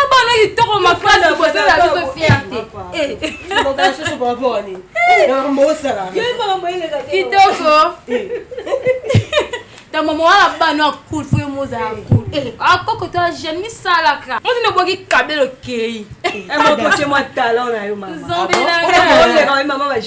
abana kitoko makasi bozela biso fierte kitoko ta mama wana bana akul fo yo mozala kul akoko to ajene misalaka motino boki kabelo kei mokoce mwa talent na yo mama zombi na ngai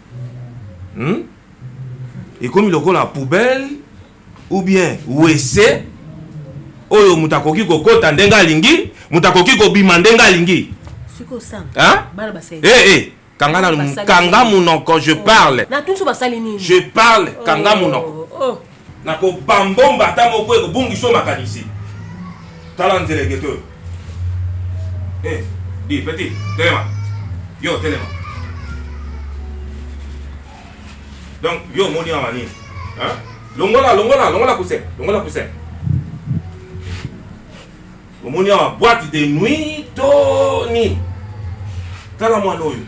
hmm? ekomi lokola poubelle ou bien wese oyo moto akoki kokota ndenge alingi moto akoki kobima ndenge alingi eh, eh, kanga nanu kanga monoko je oh. parle je parle kanga oh. monoko oh. Nakoba mbomba ata moko ekobungisa yo makanisi. Tala nzelengete oyo. Eh, di petit, telema. Yo telema. Donc yo omoni awa nini? Hein? Longola, longola, longola kuse, longola kuse. Omoni awa boîte de nuit to nini? Tala mwana oyo,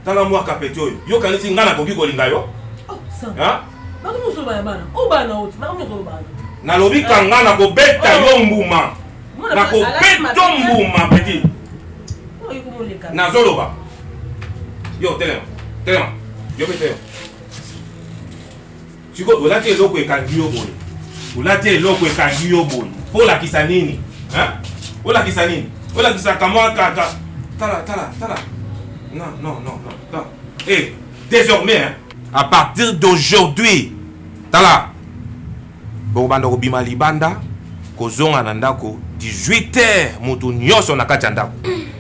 tala mwa kapeti oyo, yo kanisi ngai nakoki kolinga yo? Nalobi kanga nakobeta yo mbuma, nakobeto mbuma peti, nazoloba yo telema, telema yo mpe telema. Sikoyo olati eloko ekangi yo boye, olati eloko ekangi yo boye, mpo olakisa nini? Olakisa nini? Olakisaka mwa kaka tala tala tala, non non non non, eh désormais hein? à partir d'aujourd'hui tala bokobanda kobima libanda kozonga na ndako 18 heures moto nyonso na kati ya ndako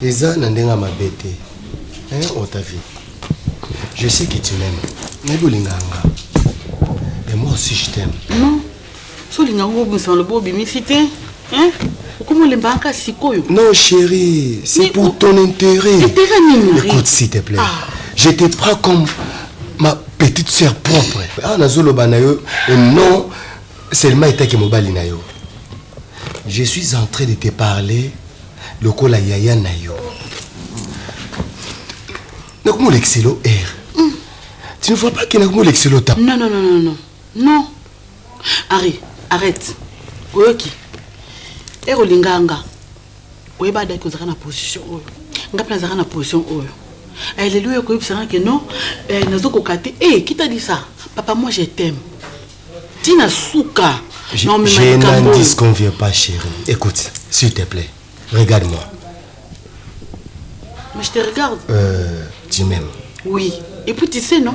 eza na ndenge ya mabe te otavi je sais que tu m'aime nayebi olingaka nga et moi aussi je t'aime non so olinga ngo obimisa maloba obimisi te hein? okomi olembaka kaka sikoyo non chéri c'est pour o... ton intérêt intérêt nini écoute s'il te plaît ah. je te prends comme ma petite sœur propre awa ah, nazoloba na yo non seulement etaki mobali na yo je suis en train de te parler lokola yaya na yo nakomolekiselo air hmm. tu ne vois pas ke nakomolekiselo ta non non non non Non Harry, arrête. Oyoki? Ero linga nga. Oyeba ada ki ozaka na position oyo. Nga pe nazaka na position oyo. Eh, lelo yo koyebisa nga ke non, eh, nazo koka te. Eh, qui t'a dit ça? Papa, moi je t'aime. Tina suka. Je, non, mais je n'en disconviens pas, chérie. Écoute, s'il te plaît, regarde-moi. Mais je te regarde. Euh, tu m'aimes. Oui. Et puis tu sais, non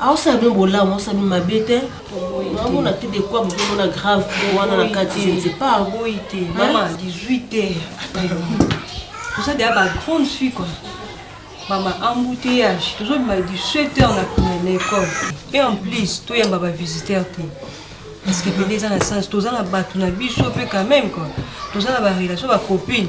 Aosala bino bolamu, aosala bino mabe te. Naomona te de quoi bokomona grave po wana na kati je ne sais pas. Boyi te. Mama 18 heures. Toza deja ba grande fille quoi. Mama embouteillage, tozo bima 17 heures na kuna na école. Et en plus, toyamba ba visiteurs te. Parce que pende eza na sens, toza na bato na biso pe quand même quoi. Toza na ba relation ba copine.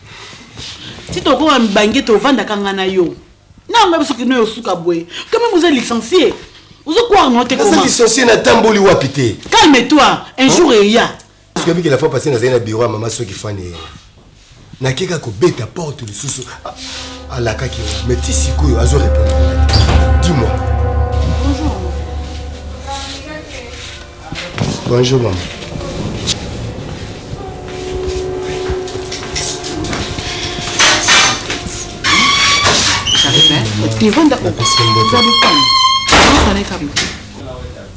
ti tokoma mibange tovandaka nga na yo nanga biso kino yo suka boye kome moza licencie ozo croire no te naza licencie natamboli wapi te calme toi un jour eya soki la fois passé nazali na bureau ya mama soki fani ye nakeka kobeta porte lisusu alakaki mais ti sikoyo azo répondre dis moi Bonjour maman.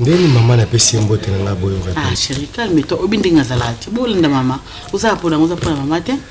ndeni mama napesi ye mbote na ngai boyoka te ah, chéri calme toi obi ndenge azalaka te bolanda mama ozala mpo nango oza mpo na mama te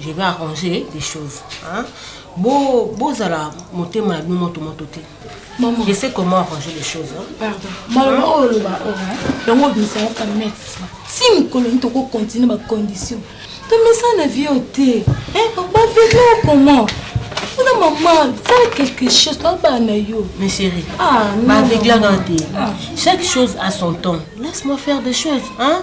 Je vais arranger des choses. Hein? Bo, bozala motema na bino moto moto te. Maman. Je sais comment arranger les choses. Hein? Pardon. Maloba hein? oyo loba oyo. Oh, Yango obimisa yo kamet. Si mikolo nito ko continuer ba conditions. To mesa na vie oyo te. Hein? Ba vivre comment? Kuna maman, fais quelque chose, toi bana yo. Mais chérie, ah, non. Ba vivre là Chaque chose a son temps. Laisse-moi faire des choses, hein?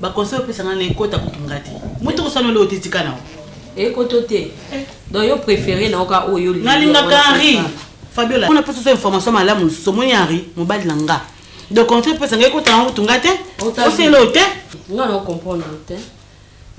Ba conseil opesa nga na ekota kutu nga te. Mutu ko sanola ote tika na. Ekoto te. Eh. Donc yo préféré na oka oyo li. Na linga ka Henri. Fabiola. On a pesa information malamu so moni Henri mobali na nga. Donc conseil opesa nga ekota na kutu nga te. Osela ote. Nga na comprendre te.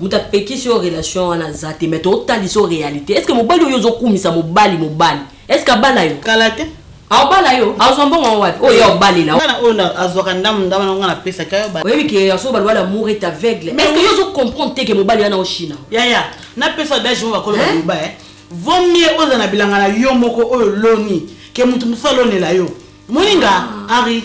Muta pekisi yo relation wana zate mais to talisa réalité. Est-ce que mobali oyo ozokumisa mobali mobali Est-ce que abala yo? Kala te. Aobala yo? Azwa mbongo yango wapi? Oyo aobalela. Bana oyo azwaka ndambo ndambo na nga na pesa ka yo ba. Oyebi ke ya so baloba l'amour est aveugle. Mais est-ce que yo zo comprendre te ke mobali wana oshina? Yaya, na pesa dash mo bakolo ba loba eh. Vaut mieux oza na bilanga na yo moko oyo loni ke mutu musu alonela yo. Moninga, Henri.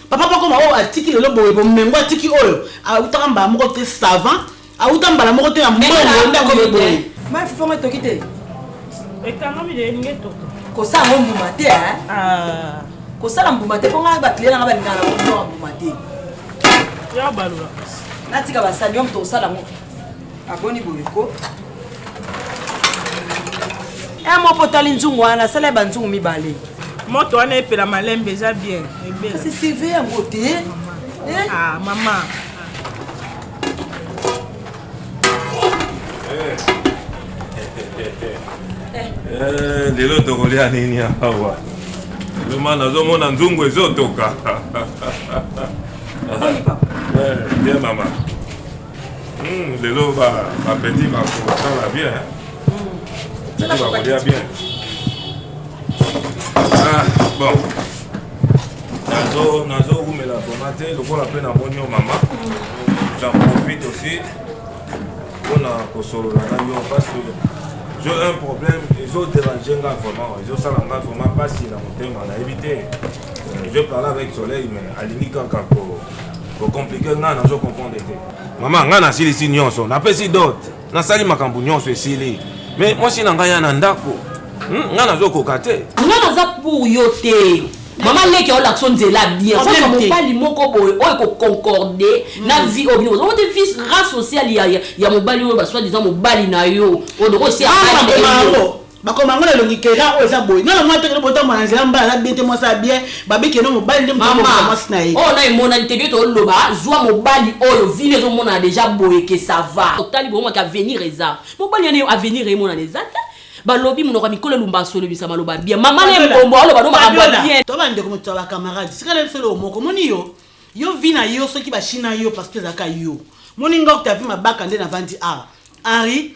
papa bakoma oyo atiki lelo boye bomengo atiki oyo awutaka mbala moko te savant awuta mbala moko te na mbongo ndako boye mafifongo etoki te ekangami de elingi etoka kosala ngo mbuma te ah. kosala mbuma te mpo ngai bakliye nanga balingaka na kotoka mbuma te natika basani yo moto osala ngo aboni boye ko eh, moko otali nzungu wana asala ye banzungu mibale moto wana epela malembe eza bien kasi cv yango te eh? ah, mama eh, lelo tokolia nini awa loma nazomona nzungu ezotoka bien mama lelo bapeti bakosala bien peti bakolia bien ah, bon nazowumela vraimen te lokola mpe namoni yo mama j'en profite aussi mpona kosolola na yo parce que j'ai un problème ezoderange nga vraiment ezosala nga vraiment mpasi na motema nayebi te Je parle avec soleil mais alingi kaka ko ko compliquer nga nazo comprendre te. Mama nga nasilisi nyonso, napesi dot, nasali makambo nyonso esili. Mais mwasi na ngai ya na ndako, hmm, nga nazo koka te. Nga naza pour yo te. mama leki aolakisa nzela bien kozwa mobali moko boye oyo ekoconcorde mm. na vie oyo bino ozango te vie ra sociale ya mobali oyo basoi disant mobali na yo oyo dokosi bakoma yango na elongi kera oyo eza boye nana mwa tekele botambola na nzela mbala na bien te mwasi ya bien babiki eno mobali nde motambola mwasi na ye oyo oh, na emonani te bioto oloba zwa mobali oyo vile ezomonana deja boye ke ça va otali bokomaki avenir eza mobali yana avenir emonana eza te balobi monoko ya mikolo elumba asolobisa maloba bien mama na ebombo aloba no makambo bien to bandeko moto ya bacamarade sikala biso eloko moko omoni yo yo vi na yo soki bachina yo parce que ezalaka yo moni nga okutavi mabaka nde navandi awa henri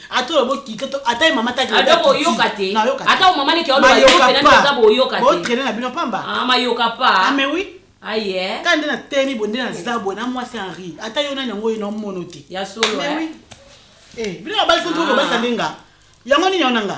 ata olobi okite ata ye mama adoko oyoka te ata omama neke olobayokaza boyoka te botraine na bino pamba ah, mayoka pa ame ah, wi aye ah, ka nde na temi bo nde naza boye na mwasi henri ata yo nani yango oyo naomono te ya solo eh. eh, bino babali soki okobalisa nde nga yango nini yango na nga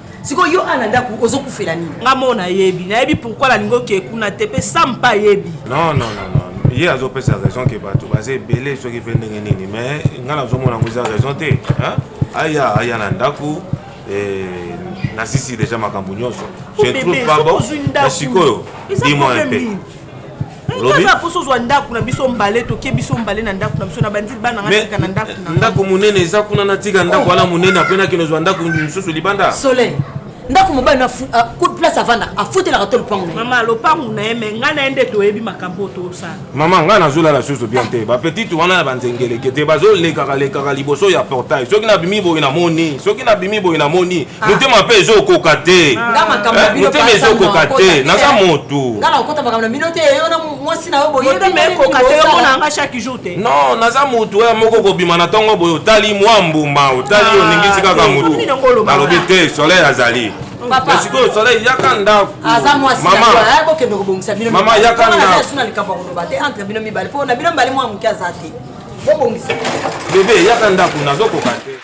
siko yo ana ndaku ozokufela nini nga mo nayebi nayebi pourkui nalingi okee kuna te mpe sam mpe ayebi non, non, non, non. ye azopesa raison ke bato baza ebele soki mpe ndenge nini mais ngai nazomona yango eza raison te aya aya na ndako eh, nasisi deja makambo nyonso je trouve pas bon sikoyo dis-moi un peu Olobi? Poso ozwa ndako na biso mbale tokie biso mbale na ndako na biso na bandili bana nga tika na ndako na. Ndako munene eza kuna na tika ndako wana munene apre na kino zwa ndako mosusu libanda. Soleil. ndako mobali na ah, coup de place avanda afutelaka to lopango na mama lopango na ye me ngai na ye nde toyebi makambo oyo tosala mama ngai nazolala susu bien te bapetite wana na banzengeleke te bazolekaka lekaka liboso ya portail soki nabimi boye namoni soki nabimi boye namoni Ah. motema mpe ezokoka te eh, motema ezokoka te naza motu non naza motu oyo moko kobima na ntongo boye otali mwa mbuma otali ah, oningisi kaka motu nalobi te soleil azali sikoyo soleil yaka ndako mama yaka ndako bebe yaka ndako nazokoka te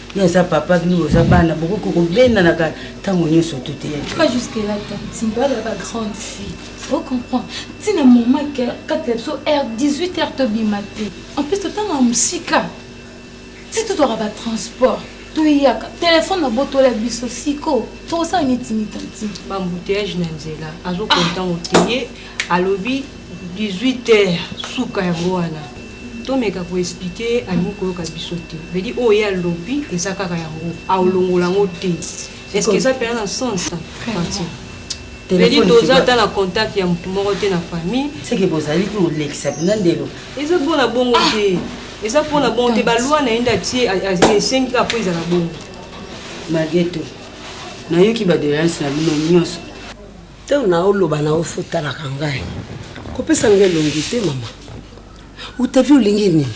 Yo aza papa bino boza bana bokoki kobendanaka ntango nyonso to te pas jusque là tantimba oyo ba grande fille ocomprendre ntina moma kati ya biso r 18 heure tobima te en plus totanga ya mosika ti totwaka batransport toyaka telefone abotola biso siko tokosala nitini tantine bambuteyage na nzela azokontango ah. te ye alobi 18 heures suka yango wana tomeka ko expliquer ye alingi koyoka biso te vedi oyo ye alobi eza kaka yango aolongola yango te est ce que eza mpena na sens parti vedi toza ata na contact ya motu moko te na famille seke bozali kolekisa mpena ndelo eza mpona bongo te eza mpona bongo te balwa na ye nde atie esengi kaka mpo ezala bongo mageto nayoki badoleance na bino nyonso Tango na yo loba na yo fo talaka ngai. Kopesa ngai elongi te mama. Utavi olingi nini?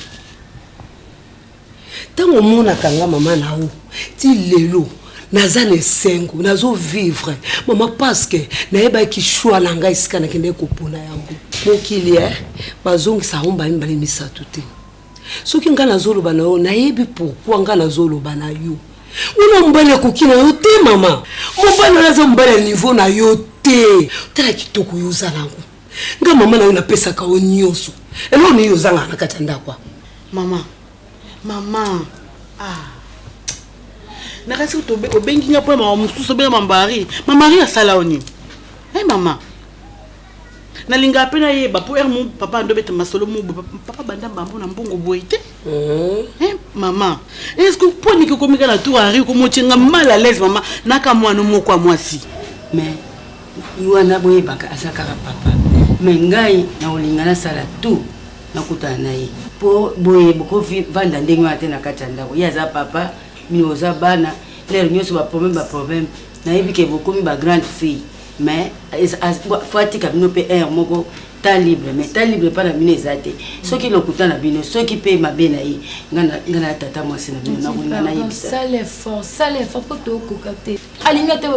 Tango omonaka nga mama na yo ti lelo naza na esengo nazo vivre mama parce que nayebaki choix na ngai esika nakendaki kopona yango. Mokili eh bazongisa yango mbala mibale misato te. soki nga nazoloba na yo nayebi pourkui nga nazoloba na yo wana mobali akoki na yo te mama mobali wana aza mobali ya nivo na yo te tala kitoko yo oza nango nga mama na yo napesaka yo nyonso eloko nini ozangaka na kati ya ndako mama mama ah. nakasi obengi nga mpo ya mama mosusu obenga mambari mamari asala yo nini e eh, mama na linga pe na yeba po er mon papa ando beta masolo mo papa banda mbambo na mbongo boye te mhm. eh maman est ce que po ni ko komika na tour ari ko mochenga mal à l'aise maman na ka mwana moko a mwasi mais yuana boye baka asaka papa mais ngai na olinga na sala tout na kutana na ye po boye boko vanda ndenge wana te na kati ya ndako ye aza papa mino oza bana lere nyonso baproblème baproblème nayebi ke bokomi bagrande fille mais faut atika bino mpe heure moko ta libre mais ta libre epai na bino eza te soki lokuta na bino soki mpe mabe na ye ngai na tata mwasi na bino nakolinga nayebisasala effort sala effort mpo tokoka te alingi ata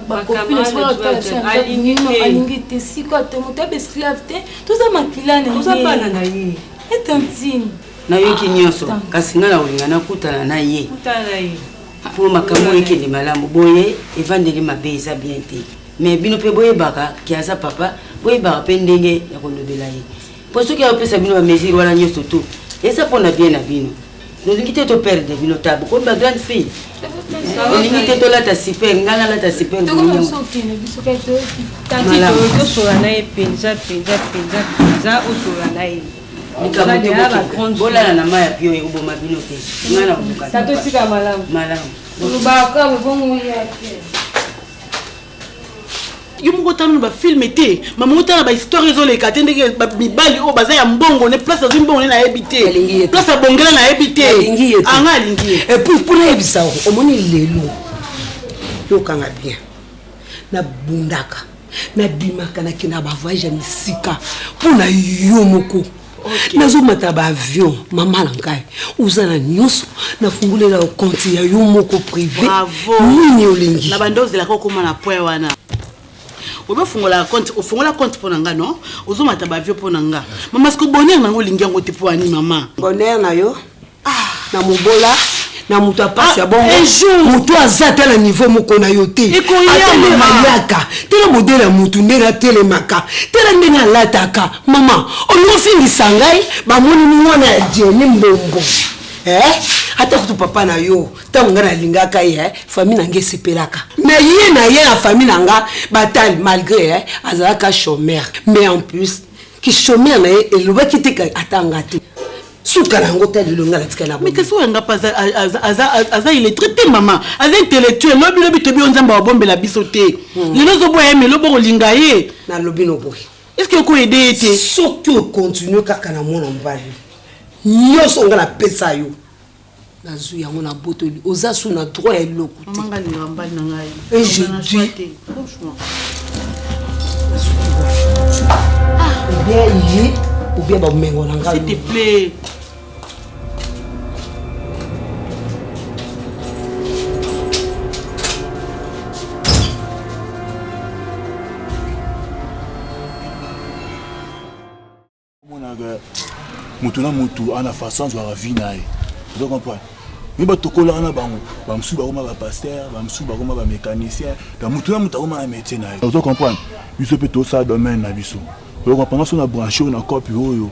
bakopinalingi te sikoyo te moto abe esclave te toza makila na ye bana na ye etantine nayoki nyonso kasi ngai nakolinga nakutana na ye mpo makambo oyo ekende malamu boye evandeli mabe eza bien te mais bino mpe boyebaka ke aza papa boyebaka mpe ndenge ya kolobela ye mpo soki ayopesa bino bamesure wana nyonso tu eza mpo na bien na bino nolingi te toperdre bino ta bokomi ba grande fille olingi te tolata super ngai nalata super malamu likambo te bokende bolala na mai ya pio ekoboma bino te ngai na koluka malamu malamu olobaka bobongo yake yo moko otala na bafilme te mama otala na bahistware ezoleka te ndenge mibali oyo baza ya mbongo ne place azwi mbongo ne nayebi te place abongela nayebi te anga alingi ye epuis mpo nayebisa omoni lelo yokanga bien nabundaka nabimaka nake na bavoyage ya misika mpo na yo moko nazomata na baavion mama na ngai oza na nyonso nafungolela yo konti ya yo moko prive nini olingi na banda ozelaka okoma na poi wana ozofungola konti ofungola konti mpo na nga no ozomata bavio mpo na nga mama siko bonheur nango olingi yango te mpo ani mama bonheur na yo ah, na mobola na moto ya mpasi ya ah, bongo moto aza ata na niveau moko na yo te atelema yaka tela modele ya motu ndenge atelemaka tela ndenge alataka mama olingi ofingisa ngai bamoni mwana ya jeni mbombo eh? ata kutu papa na yo ntango ngai nalingaka ye eh? famille na ngai esepelaka me ye na ye na famille na ngai batali malgré eh? azalaka chomeur mais en plus kichomeur na ye elobaki te atanga te suka na yango ta lelo nga natika na mekasi oyo yanga mpe aza illettré te mama aza intellectuel lobi lobi tobi yo nzambe awabombela biso te hmm. lelo ozoboya ye melo bokolinga ye nalobi noboye estce okoede ye te soki okontinue kaka na mwana mobali nyonso nga napesa yo nazwi yango na botoli oza su na droit ya eloko te manga linga mbali na ngai et je dis franchement ah ou bien ye ou bien ba mengo na ngai s'il te plaît omonaka motu na motu ana façon azwaka vie na ye ozo comprendre mi batokolaka na bango bamosusu bakoma bapaster bamosusu bakoma bamécanicien na motu na motu akoma na métier na ye ozo comprendre biso mpe tosala domaine na biso ozo comprendre so na branche oyo na cope oyo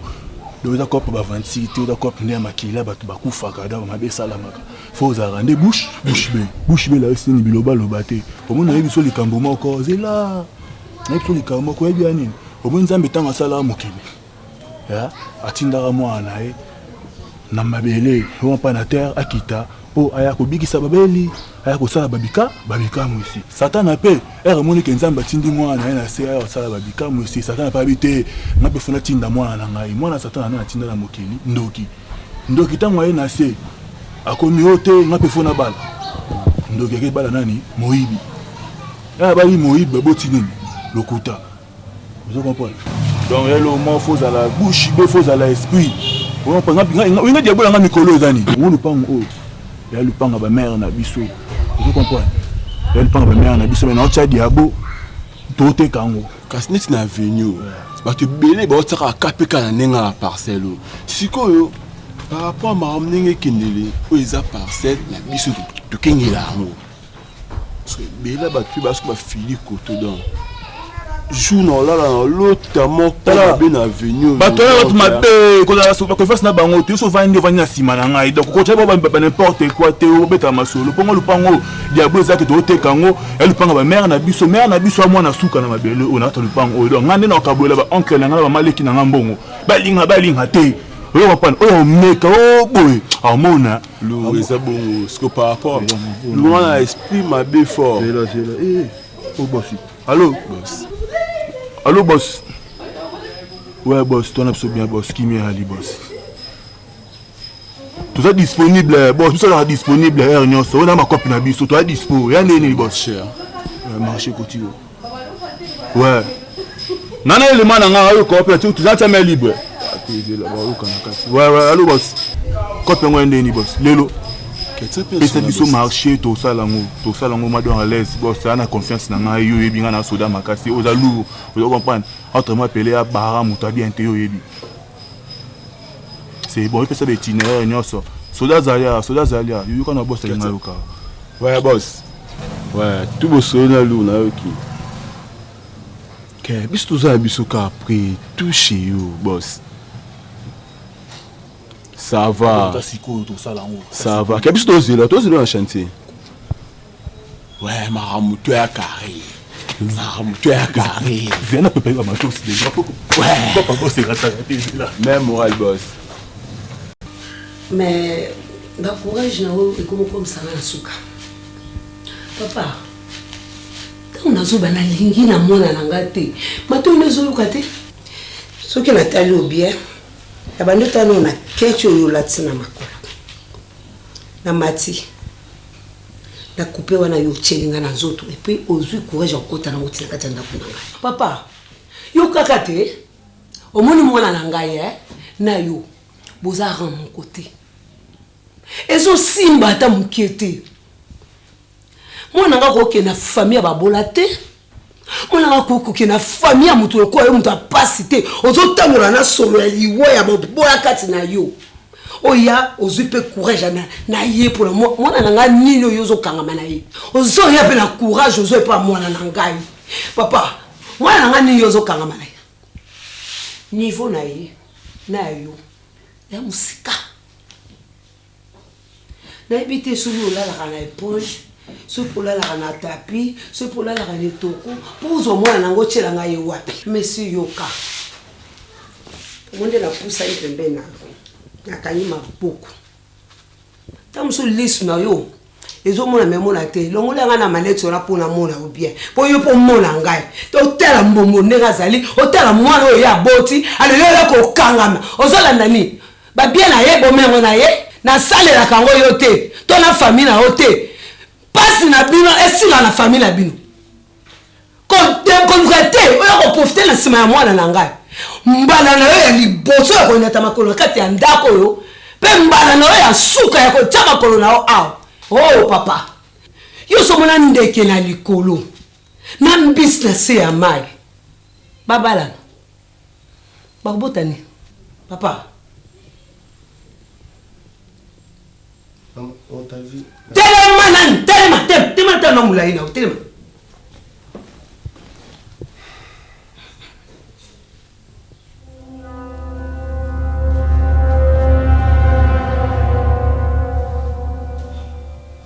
donc eza cope bavandisi te eza cope nde ya makila bato bakufaka donc mabe esalamaka fo ozalaka nde bushe bushe be bushe be layo sini bilobaloba te omona ye biso likambo moko zela nayebi so likambo moko oyebi ya nini omoni nzambe ntango asalaka mokili atindaka mwana na ye na mabele oyo mpa na terre akita mpo aya kobikisa babeli aya kosala babika babikamu esi satana mpe ere emoni ke nzambe atindi mwana na ye na se aya kosala babikamu esi satana mpe abi te nga mpe fona tinda mwana na ngai mwana satana nde natinda na mokili ndoki Ndoki tango aye na se akomi o te nga pe fo na bala ndoki ake bala nani moyibi e abali moyibi ba boti nini lokuta ozo comprendre donc ya lo mo fo zala bouche be fo zala esprit ozo comprendre nga nga nga diabola nga mikolo eza nini ngo lupango oyo ya lupanga ba mère na biso ozo comprendre ya lupanga ba mère na biso mais na otia diabo toteka yango kasi neti na avenue bato ebele baotisaka kpk na ndenge ya parcelle oyo sikoyo par rapport ya makambo ndenge ekendele oyo eza parcelle na biso tokengela yango parce que ebele bato mpe basoki bafili koto donc jour na olala na olota moko mabe na avenue bato wana bato mabe kolalakoefasi na bango te yo so ovandi ovandi na nsima na ngai donc okotya ba n'importe quoi te obetaka masolo mpongo lupango diablo ezalaki tooteka yango ya lupanga bamere na biso mere na biso ya mwana suka na mabele oyo nakata lupango oyo donc ngai nde nakabolela baoncle na ngai na bamaleki na ngai mbongo balinga balinga te oyo kopana oyo omeka o boye amona lo eza bongo siko par rapport lo wana esprit mabe fort eh, oh, allo allo bos we bos twana biso bien bos kimia ali bos toza disponible bos biso azalaka disponible heure nyonso oyo na makope na biso toza dispo ya ndenge nini bos eh, marché kotio we nana elema na ngai ayo kope toza tia mai libre alo bos kope yango ya ndenge nini bos lelo pesa biso marché tosala yango tosala yango mado en alaise bos aa na confiance na ngai yo oyebi ngai na soda makasi oza lour oza comprendre entre moi pele ya bara moto ya bien te yo oyebi C'est bon, ipesa ba itinéraire nyonso. Soda azali awa, soda azali awa. Yoka na boss alinga yoka. Ouais boss. Ouais, tout bosolo na lu na yoki. Ke biso toza na biso ka après tout chez you boss. Ça va. Ça va. Ke biso tozela, tozela na chantier. Ouais, makambo to ya carré. Makambo to ya carré. Viens na préparer ba matos déjà. Ouais. Papa boss est raté là. Même moral boss. Mais ba courage na oyo ekomi komisanga na suka. Papa, ntango nazoba nalingi na mwana na ngai te matoi no ezoyoka te soki natali obien na bandotano na keche oyo olatisi na makolo na mati na coupe wana yo otyeli ngai na nzoto epuis ozwi courage ya kokota nango tina kati ya ndako na ngai papa yo kaka te omoni mwana na ngai e eh? na yo boza ran moko te ezosimba ata moke te mwana ngai kokende na famille ya babola te mwana nga kokoke na famille ya moto lokola yo moto ya mpasi te ozotambola na solo ya liwa ya bobola kati na yo oya ozwi mpe courage na, na ye mpona mwana na ngai nini oyo ozokangama na ye ozoya mpe na courage ozwa epa mwana na ngai papa mwana na ngai nini ozokangama na ye niveau na ye na ya yo ya mosika Nayebi te soki olalaka na epoge, soki olalaka na tapi, soki olalaka na etoko, mpo ozwa mwana nango otyela ngai ye wapi? Monsieur yoka, yango nde napusani pembeni na yo, nakangi maboko, ntango mosusu lisu na yo. ezomona me mona te longola ngai na maleti wana mpo namona yo bien mpo yo mpo omona ngai otala mbongo ndenge azali otala mwana oyo ye aboti alelo oya kokangama ozolanda nini babie na ye bome yango na ye nasalelaka yango yo te to na fami na yo te mpasi na bino esila na fami na bino koluka te oya koprofite na nsima ya mwana na ngai mbala na yo ya liboso ya koyinata makolo na kati ya ndako oyo mpe mbala na yo ya nsuka ya kotya makolo na yo awa o oh, papa yo somona ndeke na likolo na mbisi na se ya mai babalana Bakobota nini? Papa. Telema nani? Telema, telema, telema tala na mulayi na telema.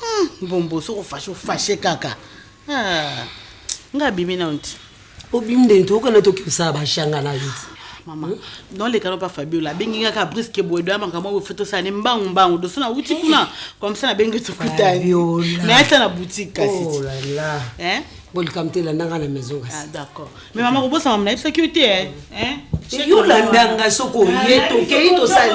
Hmm, mbombo soko fashe ofashe kaka ah, nga abimi na nti obimi nde nti okana toki kosala bashanga na yo ti mama hmm? non lekana pa fabiola abengi nga kaka briske boye doya makambo oyo foto osala ne mbangu mbangu doso na wuti kuna komsa na bengi tokutani na ata na boutique kasi oh eh? bolikam te landanga na maison kasi ah, d'accord mais mama kobosama mona yebisaki yo te eh? Eh? yo landanga soko oye tokei tosali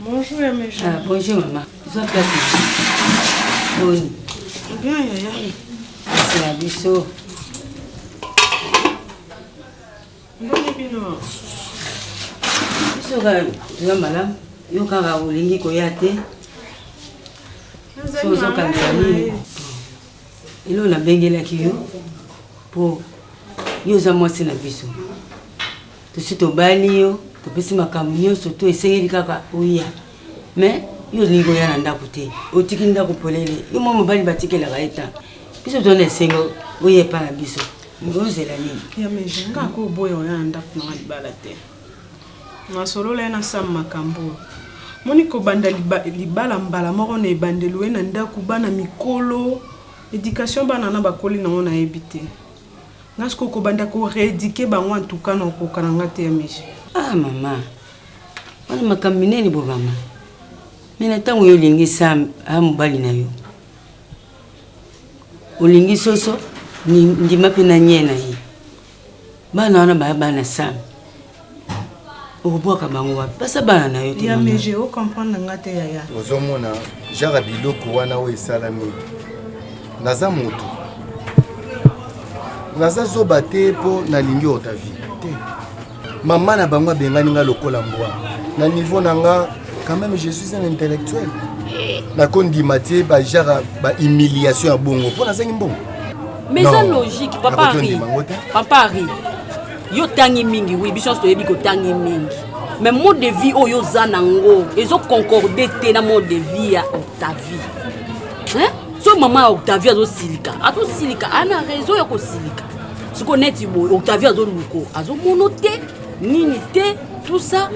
Bonjour ya mes Ah, bonjour maman. Zwa place. Boni. Bien yaya. C'est la biso. Ndoni bino. Biso kaka toza malamu. Yo kaka olingi koya te. So ozokanisa nini? Elo nabengelaki yo mpo yo oza mwasi na biso. tosi tobali yo topesi makambo nyonso to esengeli kaka oya mais yo olingi oya na ndako te otiki ndako polele yo mwa mobali batikelaka ye ntango biso tozana esengo oya epa na biso ozela nini ya meje nga ko oboya oya na ndako nanga libala te nasolola ye na sam makambo oyo moni kobanda libala mbala moko na ebandelo ye na ndako bana mikolo éducation bana na bakoli nango nayebi te Nga sikoyo kobanda ko reeduquer bango en tout cas na kokoka na nga te ya Miche. Ah mama, wana makambo minene bo mama. Mais na ntango yo olingi sa a mobali na yo olingi soso ni- ndima mpe na nye na ye bana wana baya bana sami okobwaka bango wapi basa bana na yo teyameje ocomprendre nga te yaya ozomona jara biloko wana oyo esalami naza motu naza zoba te mpo nalingi otavi te mama na bango abengani nga lokola mbwa na niveau na nga quand même je suis un intellectuel nakondima te bajara bahumiliation ya bongo mpo nazangi mbongo mais eza logique papa ari papa ari yo tangi mingi oui biso nyonso toyebi kotangi mingi mais mode de vie oyo oza nango ezo concorde te na mode de vie ya octavie hein? so mama ya octavie azosilika azosilika ana raison ya kosilika siko neti boye octavie azoluko azomono te nini te tout ça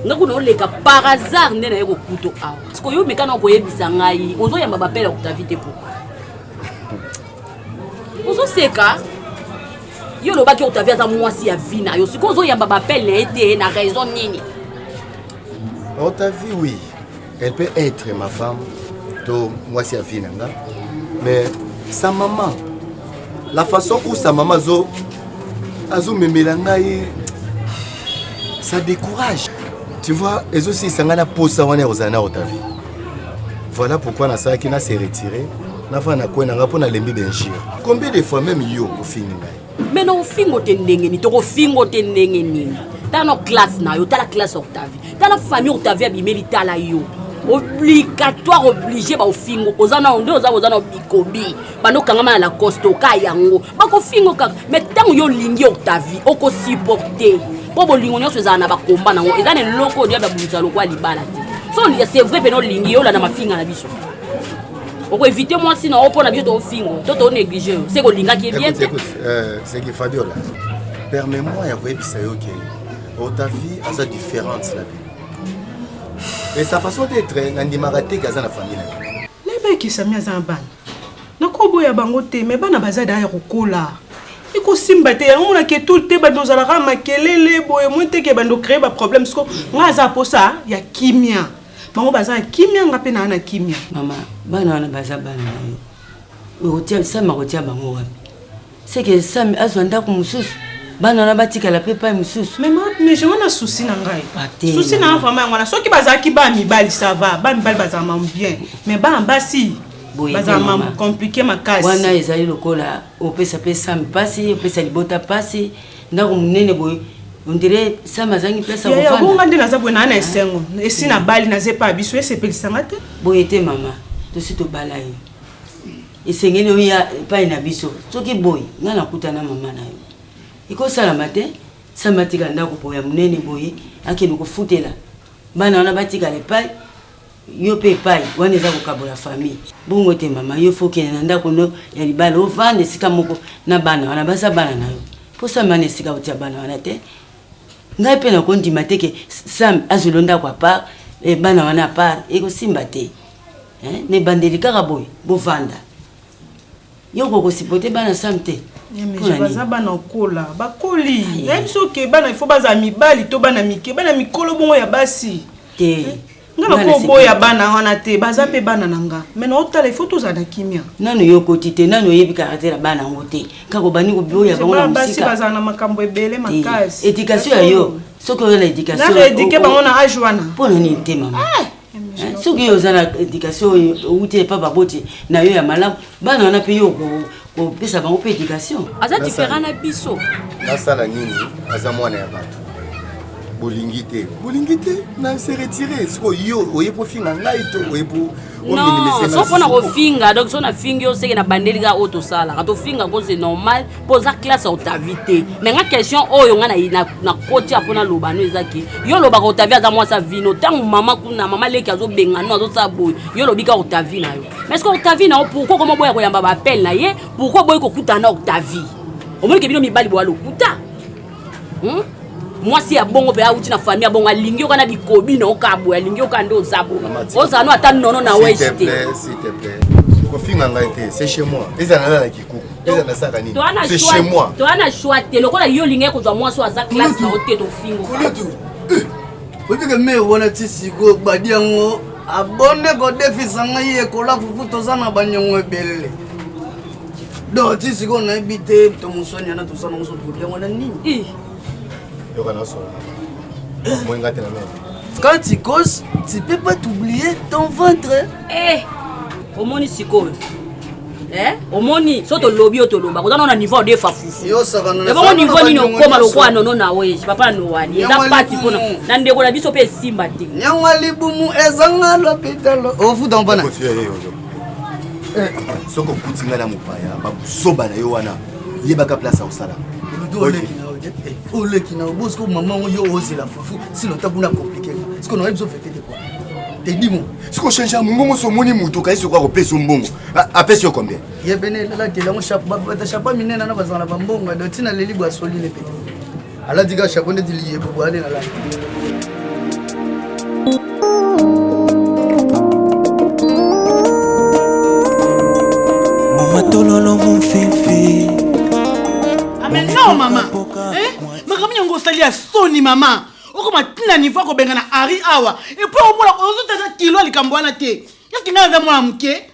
nga kuna oleka par hasard nde naye kokuto awa siko yo mekana okoyebisa ngai ozoyamba bapele ya octavie te pourkoi ozoseka yo olobaki octavie aza mwasi ya vi na yo sikoyo ozoyamba bapele na ye te na raison nini octavie oui elle peut être ma femme to mwasi ya vi na nga mais sa maman la façon où sa maman azo azomemela ngai ça décourage tu vois ezosilisa ngai na posa wana ya kozala na octavie voilà pourquoi nasalaki na se retire nafana na kwe na ngai mpo nalembi benjire combien de fois meme yo ofingi ngai me na ofingo te ndenge nini tokofingo te ndenge nini tala na classe na yo tala classe octavie tala famille octavie abimeli tala yo obligatoire oblige baofingo oza nao nde oza oza na bikobi banokangama na lacoste oka yango bakofingo kaka me ntango yo olingi octavie okosupporte mpo bolingo nyonso ezala na bakomba nango eza na eloko oyo diable abundisa lokola libala te so c'est vrai mpena olingi yo olanda mafinga na biso okoevite mwasi na yo mpo na biso toofingo to toonéglige yo se kolingaki ye bien te euh, seki fabiola permet moi ya koyebisa yo ke otavie aza différente na bino mais sa façon d'être nandimaka te ke aza na famille na bino nayebaki sami aza na bana nakoboya bango te me bana baza da ya kokola ekosimba te yango mona ke tout te bando ozalaka makelele boye moi teke bando créer ba problème siko nga aza posa ya kimia bango baza ya kimia nga mpe naa na kimia mama bana wana baza bana na yo okotia sama kotia bango wapi Seke Sami azwa ndako mosusu. Bana wana batikala pe pai mosusu. Mais mais je wana souci na ngai. Souci na vraiment yango wana soki bazalaki ba mibali ça va, ba mibali bazala mamu bien. Mais ba basi bazala mamu compliqué makasi. Wana ezali lokola opesa pe Sami pasi, opesa libota pasi, ndako munene boye ondire sama azangi place ya kofanda bonga nde naza boye naa na esengo esi nabali naza epai ya biso esepelisa nga te boye te mama tosi tobala ye esengeli oya epai na biso soki boyi nga nakuta na mama na yo ekosalama te samba atika ndako po ya monene boye akende kofutela bana wana batikala epai yo mpe epai wana eza kokabola famille bongo te mama yo fokende na ndako no ya libala ovanda esika moko na bana wana baza bana na yo mpo samba wana esika otia bana wana te ngai mpe nakondima te ke samba azwilo ndako apart eh, bana wana apart ekosimba te Hein? Na ebandeli kaka boye bovanda. Yo okoki kosipote bana Sam te? baza bana okola bakoli nayebi biso oke bana ifo bazala mibali to bana mike bana mikolo bongo ya basi te nga nakoboya bana wana te baza mpe bana na nga me naotala ifo tozala na kimia nano yo okoti te nano oyebi karaktere ya bana yango te kaka obandi koboya bango na mosika bazala na makambo ebele makasi edikatio ya yo soki oyo na edikatio na edike bango na age wana mpo na nini te mama eh! Hein, soki yo oza na éducation oyo outi epa baboti na yo ya malamu bana wana mpe yo kopesa bango mpe éducation aza différent na biso nasala nini aza mwana ya bato bolingi te bolingi te na se retire sikoyo yo oye mpo finga ngai to oye mpo non so mpo na kofinga donc so nafingi yo seke na bandeli kaka oyo tosalaka tofinga ko c'est normal mpo oza classe ya otavi te me nga question oyo nga nakoti ya mpo naloba no eza ke yo olobaka otavi aza mwasi ya vino ntango mama kuna mama leki azobenga no azosala boye yo olobi ka otavi na yo mais ceque otavi na yo pourkui okoma boya koyamba baapele na ye pourkui oboyi kokutana na otavi omoni ke bino mibali boya lokuta hmm? mwasi ya bongo mpe auti na famille ya bongo alingi yoka na bikobi na oka boye alingi yoka nde oza boye ozala no ata nono na wege te kofinga ngai te c'est chez moi eza nala na kikuku eza na saka nini c'est chez moi toa na choix te lokola yo olingai kozwa mwasi oyo aza classe na yo te tofingo oyebike mare wana ti sikoyo badi yango abonde kodefisa ngai ekola fufu toza na banyongo ebele donc ti sikoyo nayebi te to moswani yana toza nango sotokobi yango na nini yoka nasola moyenga te na meme quand tu cause tu peux pas t'oublier ton ventre eh omoni sikoyo eh? omoni so tolobi yo toloba koza nao na niveau de fafufu ebongo niveau nini okoma lokola nono na oye papa nowani eza pasi mpona na ndeko na biso mpe esimba te nyangwa libumu ezanga lopitalo ofuta mpona Eh, soki okuti ngai na mopaya babuzoba na yo wana yebaka place ya kosala oleki na obosi ko mama oyo ozela fufu sino ta kuna komplike siko nayebi zo fete te kwa tedimo siko change mongongo so omoni moto okayi soki akopesa mbongo apesi yo combien ye pene elalakeli yango bata chapa minene na bazala na bambongo ado ntina leli bwasoli ne pete alati ka chapeau ndeti liyebo bwane na lati matololo mofefe ame ah, non mama eh? makambo yango osali ya soni mama okoma ntina nivo ya kobenga na ari awa epui omona ozotata kilo ya likambo wana te eske ngai aza mwana moke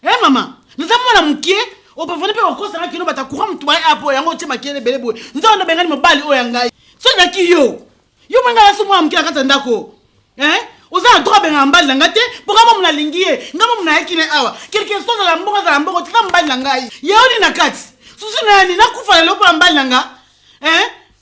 Eh mama, naza mwana mokie obavani mpe okosanga kino bata courant motu baye apo yango otie makele ebele boye nzao ndo bengani mobali oyo ya ngai soki naki yo yo mpe ngai naso mwana moke na kati ya ndako eh? oza na droit abengaka mobali na ngai te mpo ngai momu nalingi ye ngai momu nayaki na awa kelke so azala mbongo azala mbongo tika mobali na ngai yaoni na kati susu nayani nakufa lelo mpo na mobali na ngai eh?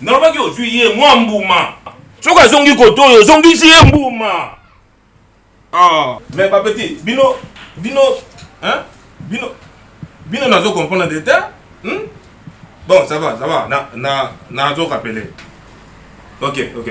Nalobaki ozwi ye mwa mbuma. Soki azongi koto oyo ozongisi ye mbuma. Ah. Mais ba petit, bino bino hein? Bino bino nazo comprendre de terre. Hmm? Bon, ça va, ça va. Na na nazo rappeler. OK, OK.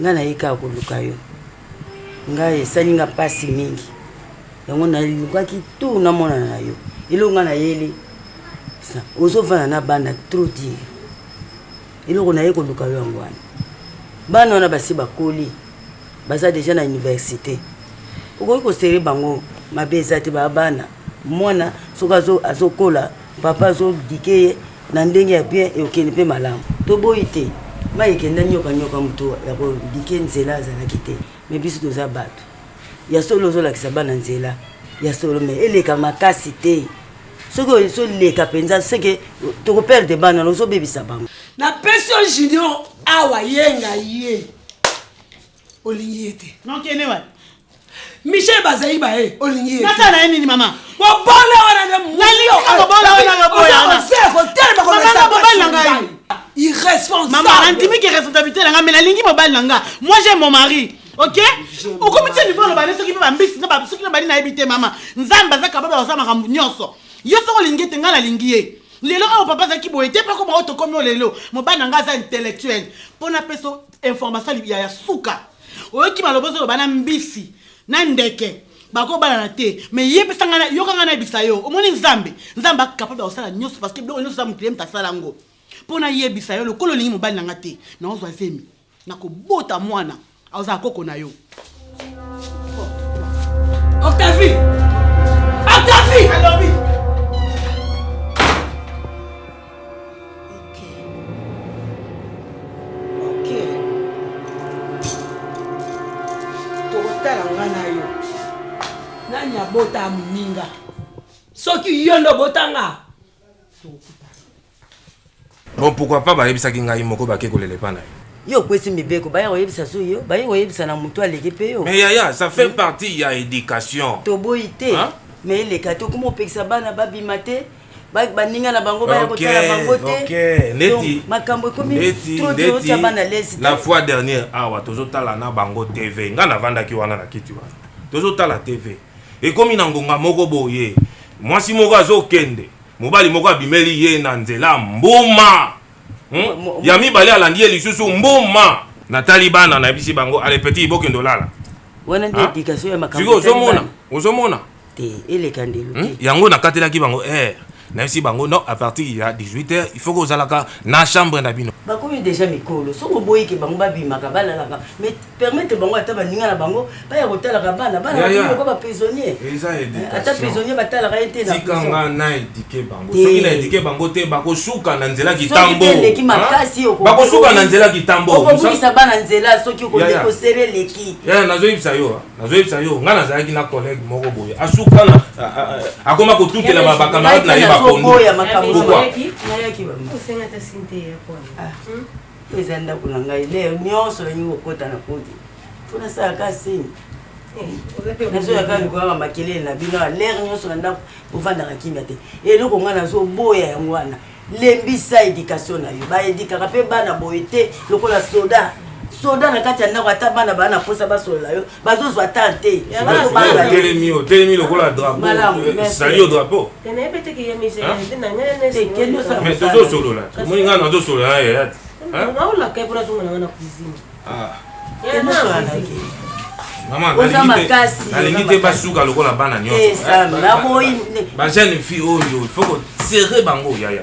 nga naye kaka koluka yo nga esali nga mpasi mingi yango nalukaki tour namonana na yo eloko nga nayeli ozovanda na bana trop dire eloko naye koluka yo yango wana bana wana basi bakoli baza deja na université okoki kosere bango mabe eza te baa bana mwana soki azokola papa azodike ye Na ndenge ya bien eokende pe malamu. To boyi te mayi ekenda nioka nioka moto ya ko dike nzela azalaki te mais biso toza batu ya solo ozo lakisa bana nzela ya solo mais eleka makasi te soki ozo leka penza ce que toko perdre bana ozo bebisa bango. Na pesi yo junior awa yenga ye. olingi ye te nokende wapi michel bazaiba ye olingi ye nasala na ye nini mama bobola wana nde mobola wana naboyaozela kotelema komobali na ngai irresponsable nandimi ke responsabilité na ngai me nalingi mobali na ngai moi j'ai mon mari ok okomi tia niveau aloba ne soki mpe bambisi soki na bali nayebi te mama nzambe aza kababa oza makambo nyonso yo soki olingi ete ngai nalingi ye lelo oyo papa azalaki boye te mpe akoma oyo tokomi oyo lelo mobali na ngai aza intellectuel mpo napesa information ya ya suka oyoki maloba ozoloba na mbisi na ndeke bakobalana te mais yebisa ngai yoka ngai nayebisa yo omoni nzambe nzambe akapable ya kosala nyonso parce que biloko nyonso za moto ye moto asala yango mpo nayebisa yo lokola olingi mobali na ngai te naozwa zemi nakobota mwana aozala koko na yo Octavie! Octavie! Alobi! tokotala nga na yo nani abota moninga soki yo nde obotanga Bon, pourquoi pas bayebisaki ngai moko bake kolela epai na ye. Yo okwesi mibeko, baye koyebisa su yo, baye koyebisa na moto aleki mpe yo. Mais yaya, ça fait partie ya education. Toboyi te, Hein? mais eleka te okoma opekisa bana babima te ba- baninga na bango baya Ok, kotala bango te ok. Donc, Neti, makambo ekomi neti, trop trop neti, otya bana lesi la fois dernière awa tozotala na bango tv ngai navandaki wana na kiti wana tozotala tv ekomi na ngonga moko boye mwasi moko azokende Mobali moko abimeli ye na nzela mbuma. Hmm? Ya mibale alandi ye lisusu mbuma. Natali bana nayebisi bango ale petit bokende olala. Wana nde education ya makambo. Ozomona? Ozomona? Te, eleka ndelo hmm? te. Yango nakatelaki bango eh nayebisi bango non à partir ya 18 heures il faut kozalaka na chambre na bino. Bakomi déjà mikolo. Soki oboyike bango babimaka balalaka mais permettre bango ata baninga na bango baya kotalaka bana bana bakoka ba prisonnier eh, ata prisonnier batalaka ye te natikanga na edike bango soki na edike bango te bakosuka na nzela kitambo eleki makasi bakosuka na nzela kitambo okobungisa bana nzela soki okosere eleki nazoyebisa yo nazoyebisa yo ngai nazalaki na collègue moko boye asuka na akoma kotutela bacamarade na ye bapondo oyo eza ndako na ngai leo nyonso nalingi kokota na podi mpo nasalaka sini nazoyaka likolaka makelele na bino alere nyonso na ndako bofandaka kimia te eloko ngai nazoboya yango wana lembisa edikatio na yo baedikaka mpe bana boye te lokola soda soda na kati ya ndako ata bana baa na mposa basolola yo bazozwa ta te otelemi otelemi lokola draposali yo drapo tozosolola omoni ngai nazosolola na yaya te nalingi te basuka lokola bana nyonso bajeune fille oyo il faut kosere bango yaya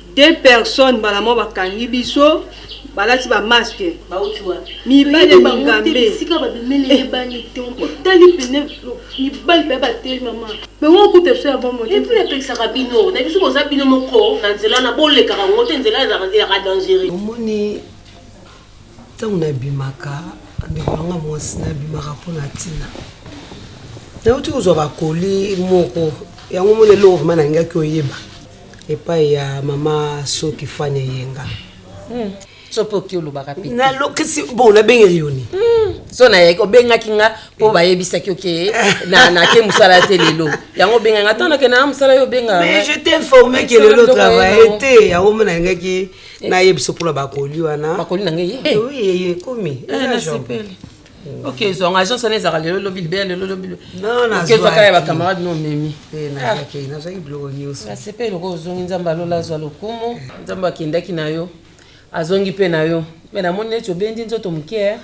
Deux personnes mbala moko bakangi biso balati ba masque mibali ya mingambe omoni ntango nabimaka ndeko nanga mwasi nabimaka mpo na ntina nauti kozwa bakoli moko yango moni eloko vrema nalingaki oyeba epai ya mama soki fani eyenga hmm. so mpe oki olobaka mpe nalokisi bo nabengeli yo ni hmm. so nayaki obengaki nga mpo eh. bayebisaki oke nake mosala te lelo yango obengaki nga ntango nakenda na mosala yo obenga mais je t'informe ke lelo travaille te yango mona nalingaki eh. nayebisa mpona bakoli wana bakoli na ngai eh. ekomi nasepeli ok ezwanga agence wana ezalaka lelo lobi libela lelo lobi okezwaka ya bacamarade no omemi nazwaki biloko nyonso nasepeli lokola ozongi nzambe alola azwa lokumu nzambe akendaki na yo azongi mpe na yo me namoni neti obendi nzoto moke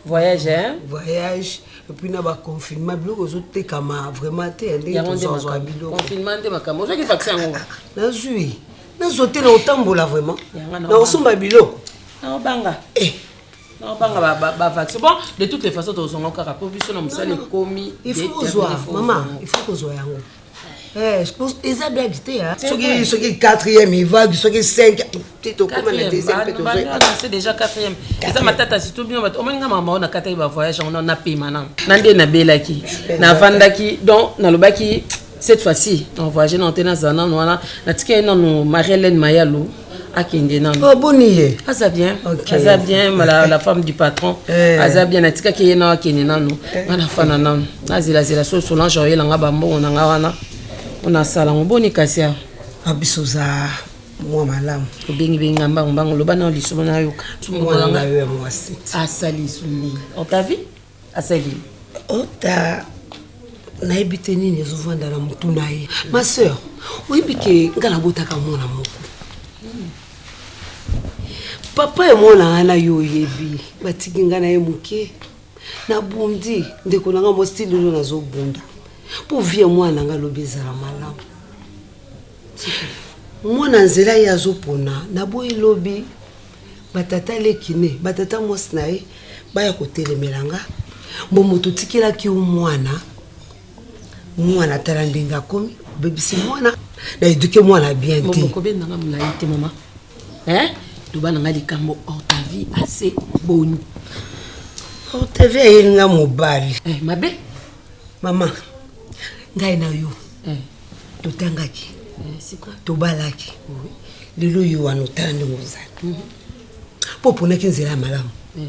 voyage eh? voyage epuis na baconfinement biloko ozotekama vraiment te ndeozwaka bilokoconfinement nde makambo ozwaki vaccin yango nazwi nazwa te na otambola vraiment na osomba biloko naobanga eh. nabanga ba, ba, ba vaccin bon de toutes les façons tozonga kaka mpo biso na mosala ekomi il faut kozwa mama il faut kozwa yango eh, eza blague te soki soki quatrième evague soki cinq te tokoma na deuxièmepetozoyebase déjà quatrième eza matata surtout bino bato omoni nga mama oyo nakataki bavoyage yango napema nano na nde nabelaki navandaki donc nalobaki cette fois ci na voyage nano te nazala nano wana natika ye nano marie hélène mayalo akende nano oh, boni ye aza bien okay. aza bien la, la femme du patron eh. aza bien natikaki ye nao akende nano eh. nga nafana nano nazelazela so solange oyela nga bambongo na nga wana onasala ngo boni kasi awa ah, biso za mwa malamu obengibengi nga mbango mbango loba nao lisomo nayoka asali suni otavi asali ota nayebi te nini ezovanda na motu na ye ma sœur oyebi ke nga nabotaka mwana moko papa ya mwana nga na yo oyebi batiki nga na ye moke nabundi ndeko na nga mostili oyo nazobunda mpo vie mwana na nga lobi ezala malamu mwana nzela ye azopona naboyi lobi batata leki ne batata mwasi na ye baya kotelemela nga mbo moto otikelaki yo mwana mwana tala ndenge akomi obebisi mwana na eduke mwana bien te okobendanga molai te mama loba na nga likambo ortavie ase boni ortavie ayeli nga mobali eh, mabe mama ngai na yo eh. totangaki tobalaki lelo yo wana otala ndenge ozali mpo mhm. oponaki nzela ya malamu eh.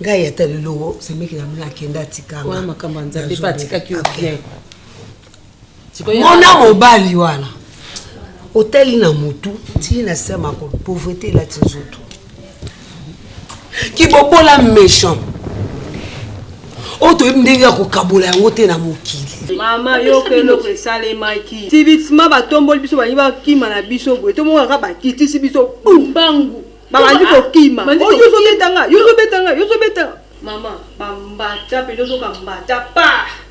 ngai ata lelo semeki na mino akenda atikanga makambo ya nzambe mpe atikaki yo bien mona mobali wana otali na motu tii na se makolo pauvreté elati nzoto kibobola méchant oyo toyebi ndenge ya kokabola yango te na mokili mama yoka eloko esalemaki sibitima batomboli biso balingi bakima na biso boye tomonaka bakitisi biso bumbangu babandi kokima yozobetanga yozobetanga yozobetanga mama bambata mpe yozoka mbata pa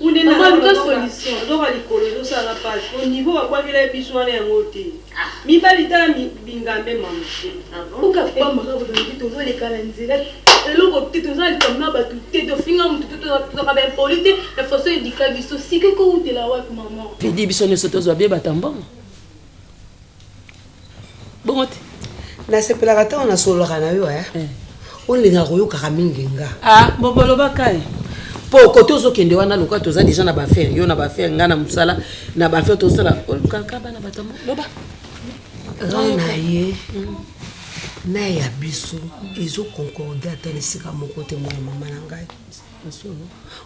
Maman luka solution nzoka likolo ezo sala nga pasi po niveau ba bwakela biso wana yango te mibali tala bingambe maman. Boka pamba kaka balobi tozo leka na nzela eloko te toza na likambo na batu te tofinga mutu te tozalaka ba impoli te na façon eduka biso sika eko wutela wapi maman. Teddy biso nioso tozwa bye bata mbongo. bongo te nasepelaka ntango nasololaka na yo eh. eh. olingaka koyokaka mingi nga ah, bobolobaka ye mpo kote ozokende wana lokola toza deja na bafere yo na bafere ngai na mosala na bafere tosala olukaka bana bato loba rai na ye mm. na ya biso ezoconcorde ata na esika moko te mwana mama na ngai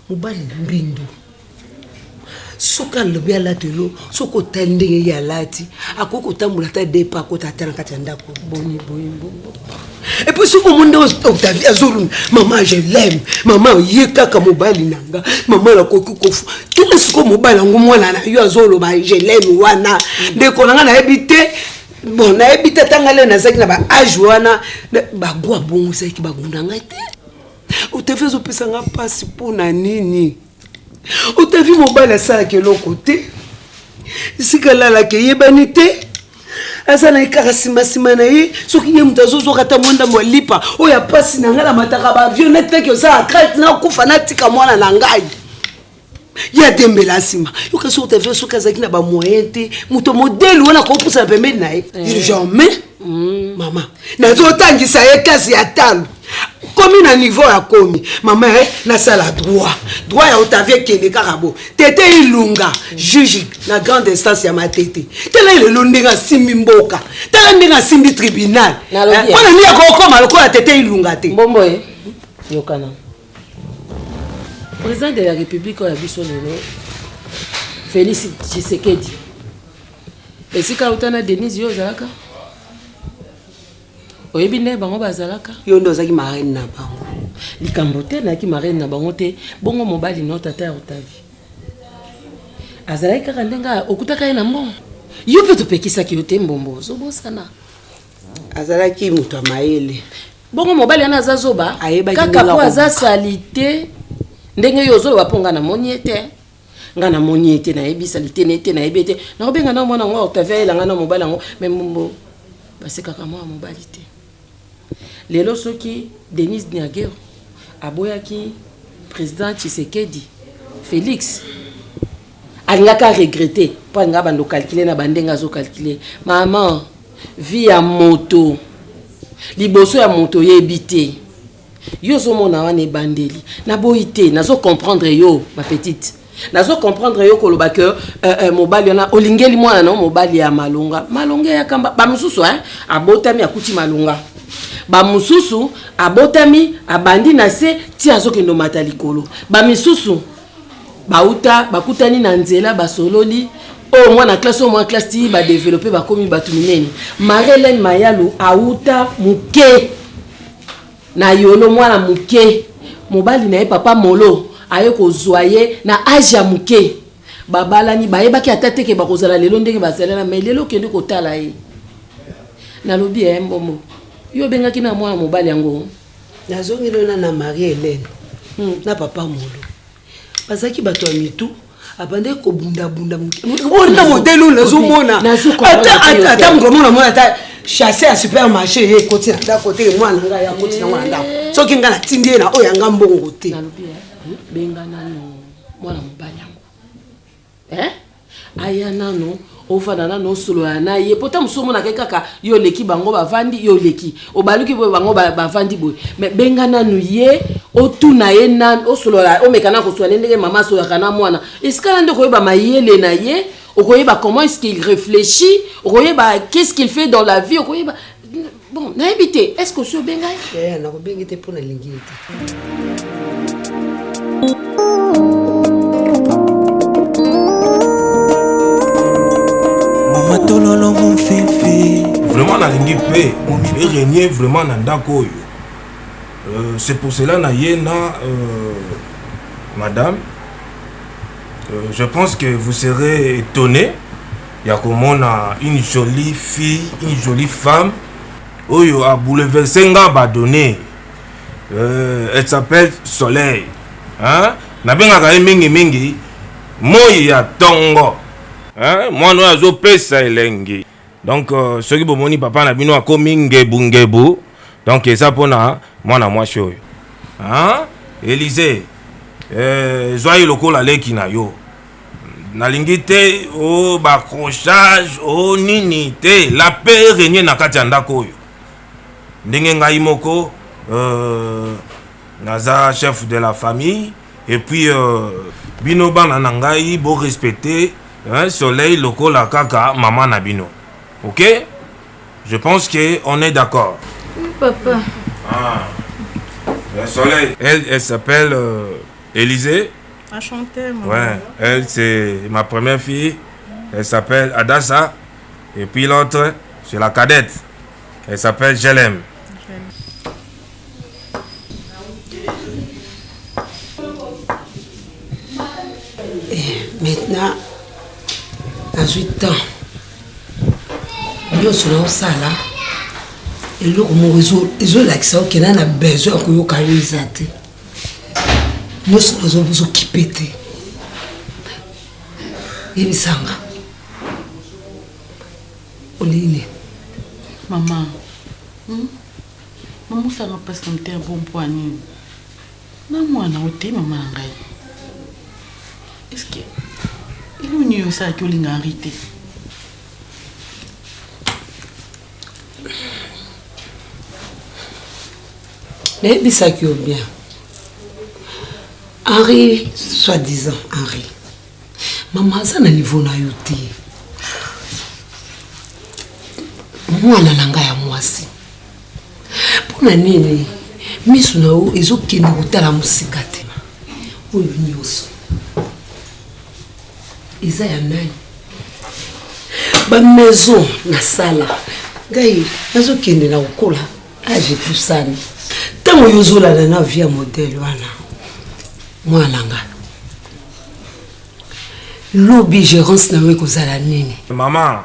mobali mbindo soki alobi alati yo soki otali ndenge ye alati akoki kotambola ata depa akota ata na kati ya ndako boni boye bongo epuis soki omoni nde octavie azoluna mama je leme mama ye kaka mobali na nga mama nakoki kofu tuna sikoyo mobali yango mwana na yo azoloba je leme wana ndeko na nga nayebi te bon nayebi te atanga leo nazalaki na baage wana bago abongo ezalaki bagunda ngai te octavie azopesa nga mpasi mpo na nini otavi mobali asalaka eloko te esika alalaka eyebani te aza na ye kaka simasima na ye soki ye moto azozoka ata mwa ndambo ya lipa oyo ya mpasi na ngai na mataka bavio netaki osala krate nakufa natika mwana na ngai ye adembela nsima yoka soki otavio soki azalaki na bamoyen te moto modele wana akopusana pembeni na ye eh. jamais mm. mama nazotangisa ye klase ya talo komi na niveau ya komi mama e nasala droit droit ya otavie kende kaka bo tete ilunga juge na grande instance ya matete tala lelo ndenge asimbi mboka tala ndenge asimbi tribunal eh, mpona nini akokoma lokola tete ilunga te mbombo e yokana président de la république oyo ya biso lelo félix tshisekedi esika auta na denise yo ozalaka oyebi nde bango bazalaka yo nde ozalaki marraine na bango likambo te nayaki marraine na bango te bongo mobali no tata ya otavi azalaki kaka ndenge okutaka ye na mbongo yo mpe topekisaki yo te mbombo ozobosana azalaki moto ya mayele bongo mobali wana aza zoba kaka po aza salite ndenge yo ozoloba mpo nga namoni ye te nga na moni ye te na yebi sali te ne te na yebi te na obenga na mwana ngo Octavia yela nga na mobali yango mais mbombo basekaka mwana mobali te lelo soki Denise Niagero aboyaki président Tshisekedi Félix alingaka regretter mpo alingaka bando calcule na bandenge azo calcule maman vie ya moto liboso ya moto oyebi te yo ozomona wana ebandeli naboyi te nazo comprendre yo ma petite nazo comprendre yo koloba ke euh, euh, mobali wana olingeli mwana na mobali ya malonga malonga ya kamba bamosusu eh, abotami akuti malonga bamosusu abotami abandi na se ti azokende omata likolo bamisusu bauta bakutani na nzela basololi oyo oh, mwana classe oyo mwana classe ti badevelope bakomi bato minene marie helene mayalu auta moke na yolo mwana moke mobali na ye papa molo aye kozwa ye na age ya moke babalani bayebaki ata teke bakozala lelo ndenge bazalana mai lelo okende kotala ye nalobi ya ye mbombo yo obengaki na mwana mobali yango nazongi lona na marie helene hmm. na papa molo bazalaki bato ya mitu abandaki kobundabunda mokeona modele oyo nazomona ata mokolo mona mona ata chasse ya supermarché ye ekoti na ndako te mwana na ngai akoti nango na ndako eh. soki ngai natindi ye na oyo yanga mbongo te eh, benga nano mwana mobali yango Eh? aya nano ofanda nano osolola na ye po ta mosusu omonaka ye kaka yo oleki bango bavandi yo oleki obaluki boye bango bavandi boye me benga nanu ye otuna ye nanu osolola omeka na koswa ne ndenge mama asololaka na mwana esika na nde okoyeba mayele na ye okoyeba comment est ce qu'il réfléchit okoyeba qu'est ce qu'il fait dans la vie okoyeba Bon, nayebi te. Est-ce que osi obenga ye? Eh, nakobengi te mpo nalingi ye te. Mama tololo mon fifi. Vraiment nalingi mpe erenie vraiment na ndako oyo. Euh, c'est pour cela na ye na euh, madame. Euh, je pense que vous serez étonné ya komona une jolie fille une jolie femme oyo a bouleverse nga badonne euh, elle s'appelle soleil hein? nabengaka ye mingimingi moi ya tongo hein? mwana oyo azopesa elengi donc euh, soki bomoni papa na bino akomi ngebungebu donc eza mpona mwana mwasi oyo hein? elise euh, zwa ye lokola leki na yo nalingi te o oh, bacrochage o oh, nini te la paix eregne na kati ya ndako oyo ndenge ngai moko euh, naza chef de la famille et puis euh, bino bana na ngai borespecte hein, soleil lokola kaka mama na bino ok je pense que on est d'accord oui, papa ah. le soleil elle, elle s'appelle euh, Élysée A chanter, maman. Ouais, elle c'est ma première fille. Elle s'appelle Adassa. Et puis l'autre, c'est la cadette. Elle s'appelle Jelem. maintenant nazwi temps nyonso naosala eloko moko ezolakisa okenda na besoin ya koyoka yo eza te nyonso nazo bozo kipe te yebisanga olingi nini mama hmm? mamosanga mpasi na motema mpo mpo ya nini na mwana ote mama na ngai eske elongi oyo osalaki olinga henri te nayebisaki yo bien henri soit disant henri mama aza na niveau na yo te mwana na ngai ya mwasi mpo na nini miso na yo ezokende kotala mosika te oyo nyonso eza ya nani ba maison nasala ngai nazokende na kokola age epusani ntango yo ozolanda na vie ya modele wana mwana nga lobi gerance na yo ekozala nini mama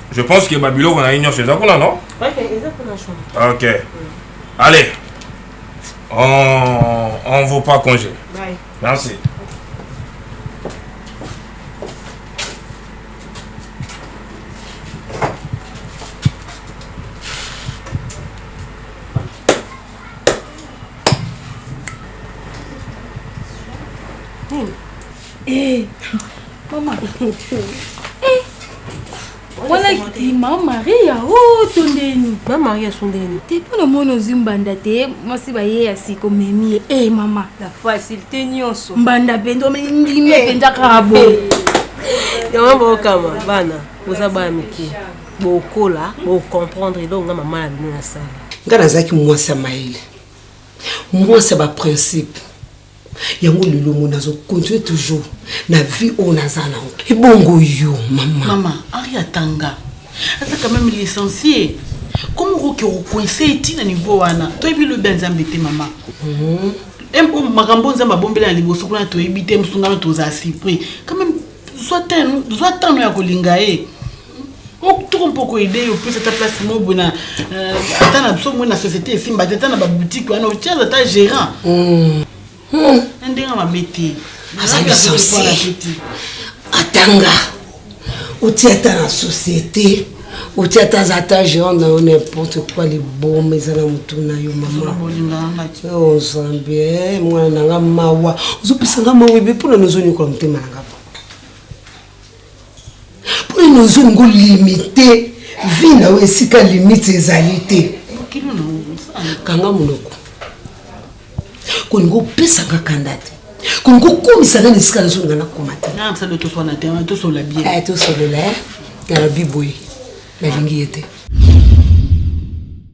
Je pense que ba biloko na ye nyonso eza kuna non? Ok, eza kuna chambre. Ok. Mm. Allez. On on vaut pas congé. Bye. Merci. Eh, mama. Eh. Wana ki mama Maria oh tondeni. Mama Maria sondeni. Te mpo na mwana ozwi mbanda te mwasi baye ya sika omemi ye. Eh mama. La facilité nyonso. Mbanda mpenza omeli ndimi eh. mpenza kaka boye. Yango bokama bana boza bana mike bokola bocomprendre eloko nga mama na bino nasala. Nga nazalaki mwasi ya mayele mwasi ya baprincipe yango lelo ngo nazo continue toujours na vie oyo naza nango ebongo yo mama mama ari atanga aza quand même licencie komi okoki okoinse eti na niveau wana toyebi lobi ya nzambe te mama mhm. makambo nzambe abombela na liboso kuna toyebi te mosungano tozala surpris quand même zwa tano ya kolinga ye toko mpoko ide yo plus ata place moko boye na euh, ata na biso moi na société esimba te ata na baboutique wana otiaza ata gérant hmm. Hmm. na ndenge mabe te azali sense atanga oti ata na société oti ata aza ata géant na yo n'importe quoi liboma eza na motu na yo mamazambi oh, mwana na nga mawa ozopesa nga mawa ebe mpona nozonyokola motema na nga Mpo nini ozongi ngo limite vie na yo esika limite ezali te? Kanga monoko. Kolinga opesaka kanda te. Kolinga okomisa nga na esika nazonga nakoma te. Ah, tosolola bien. Tosolola eh, na biboye nalingi ye te.